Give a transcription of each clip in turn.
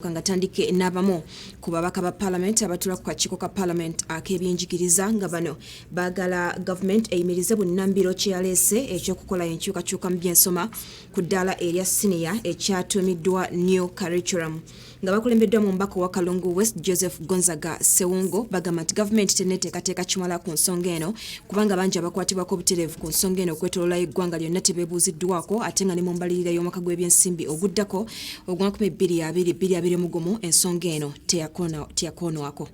nga tandike n'abamu ku babaka ba palamenti abatula ku kakiiko ka palamenti ak'ebyenjigiriza nga bano baagala gavumenti eyimirize bunnambiro kye yaleese ekyokukola enkyukakyuka mu byensoma ku ddaala erya siniya ekyatuumiddwa new curriculum nga bakulembeddwa mu mbaka owa kalungu west joseph gonzaga sewungo bagamba nti gavumenti teneteekateeka kimala ku nsonga eno kubanga bangi abakwatibwako obutereevu ku nsonga eno okwetololayo eggwanga lyonna tebeebuuziddwako ate nga ne mu mbalirira y'omwaka gw'ebyensimbi oguddako ogwa 2022 mu gumu ensonga eno teyakoonwako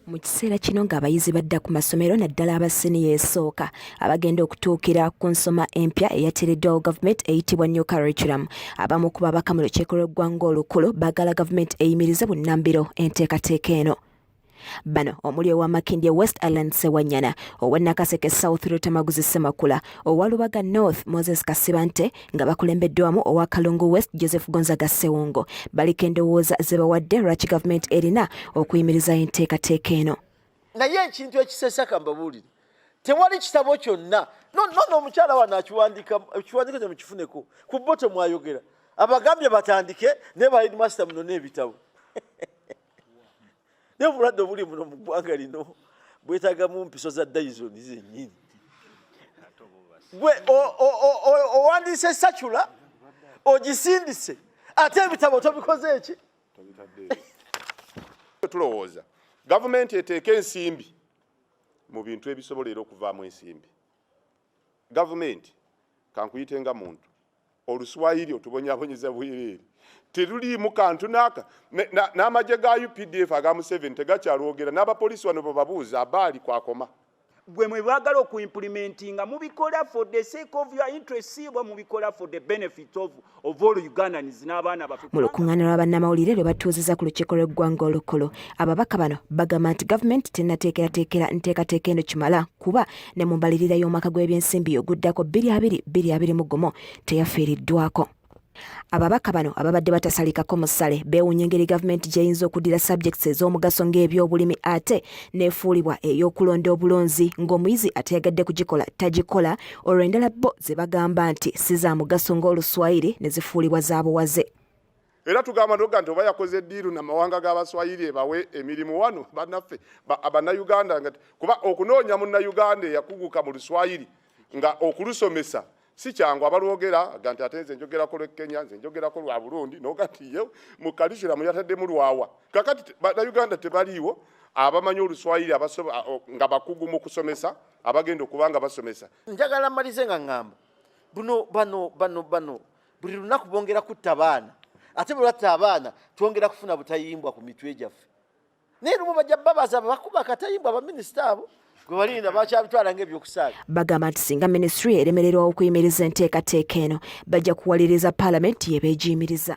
mu kiseera kino ng'abayizi badda ku masomero naddala aba siniya esooka abagenda okutuukira ku nsoma empya eyateereddwawo gavumenti eyitibwa new curriculum abamu ku babaka mu lukiiko lw'eggwanga olukulu baagala gavumenti eyimirize bunnambiro enteekateeka eno Bano omuli owa Makindye West Allan Sewanyana, owa Nakaseke South Lutamaguzi Semakula, owa Lubaga North Moses Kasibante nga bakulembeddwamu owa Kalungu West Joseph Gonzaga Sewongo baliko endowooza ze bawadde lwaki gavumenti erina okuyimiriza enteekateeka eno. Naye ekintu ekisesa kambabuulire tewali kitabo kyonna nono omukyala wano akiwandika ekiwandiko kye mukifuneko ku bo temwayogera abagambye batandike naye ba headmaster muno n'ebitabo naye obulwadde obuli muno mu ggwanga lino bwetagamu mpiso za dayizoni zenyini gwe owandiise sacula ogisindise ate ebitabo tobikoze eki tulowooza gavumenti eteeka ensimbi mu bintu ebisobola era okuvaamu ensimbi gavumenti kankuyite nga muntu oluswayiri otubonyabonyeza bwereere teruliimu kantu naaka n'amagye ga updf aga museveni tegakyalwogera n'abapoliisi wano bebabuuza abaali kwakoma gwe mwebagala okuimplimentinga mubikola for the sake of your interest siibwa mubikola for the benefit of mu lukuŋŋaana lwa bannamawulire lwe batuuzizza ku lukiiko lw'eggwanga olukulu ababaka bano bagamba nti gavumenti tennateekerateekera nteekateeka eno kimala kuba ne mu mbalirira y'omwaka gw'ebyensimbi oguddako 2221 gumu teyafiiriddwako ababaka bano ababadde batasalikako musale beewunya engeri gavumenti gyeyinza okuddira subjects ez'omugaso ng'ebyobulimi ate neefuulibwa ey'okulonda obulonzi ng'omuyizi ateyagadde kugikola tagikola olwo endala bo ze bagamba nti si za mugaso ng'oluswayiri ne zifuulibwa za buwaze era tugamba noga nti oba yakoze diiru na mawanga g'abaswayiri ebawe emirimu wano banaffe bannayuganda nga kuba okunoonya munnayuganda eyakuguka mu luswayiri nga okulusomesa si kyangu abalwogera ga nti ate nze njogerako lwe kenya nze njogerako lwa burundi noga nti ye mu kalisulamu yataddemu lwawa kakati bannayuganda tebaliiwo abamanyi oluswayiri nga bakugu mu kusomesa abagenda okuba nga basomesa njagala malize nga ŋŋamba buno bano bano bano buli lunaku bongera kutta abaana ate bwe batta abaana twongera kufuna butayimbwa ku mitwe gyaffe naye lumu bajja babaza bakuba akatayimbwa abaminisita abo gwebalinda bakyabitwala ngaebyokusaaga bagamba nti singa minisitule eremererwa okuyimiriza enteekateeka eno bajja kuwaliriza paalamenti yebeegiyimiriza